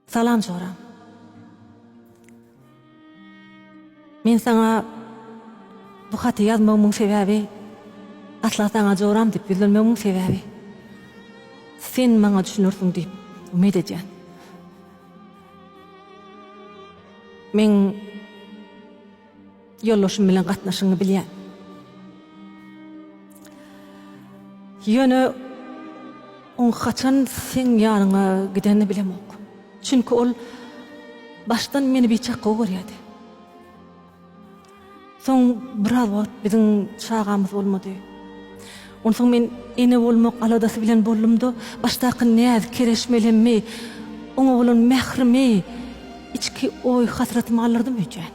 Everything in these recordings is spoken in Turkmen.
Salam Jora. Men saňa bu haty ýazmagymyň sebäbi asla saňa Joram diýip ýüzlenmegimiň sebäbi sen maňa düşünersiň diýip umyt edýän. Men Ýoldaşym bilen gatnaşygyňy bilýän. Ýöne oň haçan seň ýanyňa gidenini bilemok. Çünki ol başdan meni biçak gowy görýärdi. Soň biraz wagt biziň çagamyz bolmady. Onsoň men ene bolmak aladasy bilen boldum-da, başdaky näz, kereşmelemmi, oňa bolan mährimi, içki oý-hasratymy galdyrdym öýdýän.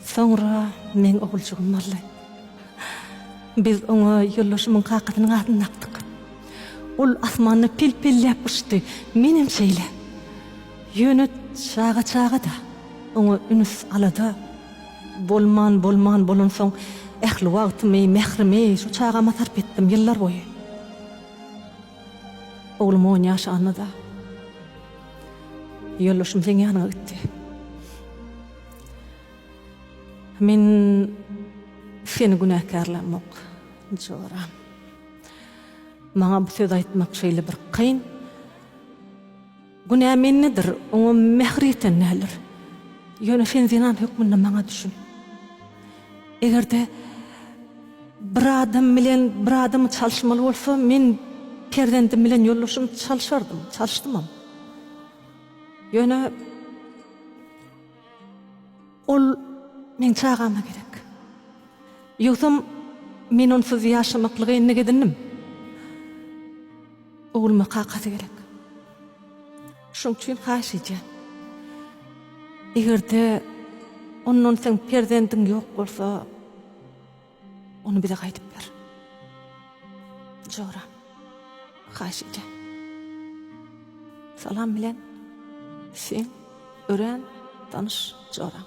Soňra meň oguljygym boldy. Biz oňa ýoldaşymyň kakasynyň adyny dakdyk. Ol asmanda pel-pelläp uçdy, menem şeýle. Ýöne çaga çaga-da, oňa ünüs-alada bolman, bolman bolansoň, ähli wagtymy, mährimi şu çagama sarp etdim ýyllar boýy. Oglum on ýaş alnada ýoldaşym seň ýanyňa gitdi. Men seni günäkärlämok, Jora. Maňa bu sözi aýtmak şeýle bir kyn. Günä mendedir, oňa mähir ýeten däldir. Ýöne sen zenan hökmünde maňa düşün. Eger-de bir adam bilen bir adamy çalyşmaly bolsa, men perzendim bilen ýoldaşymy çalyşardym, çalyşdymam. Ýöne ol meň çagama gerek. Ýogsam, men onsuz ýaşamaklygy endik edindim. Ogluma kakasy gerek. Şoň üçin haýyş edýän. Egerde ondan seň perzendiň ýok bolsa, ony bize gaýdyp ber. Jora. Haýyş edýän. Salam bilen, seň örän tanyş joraň.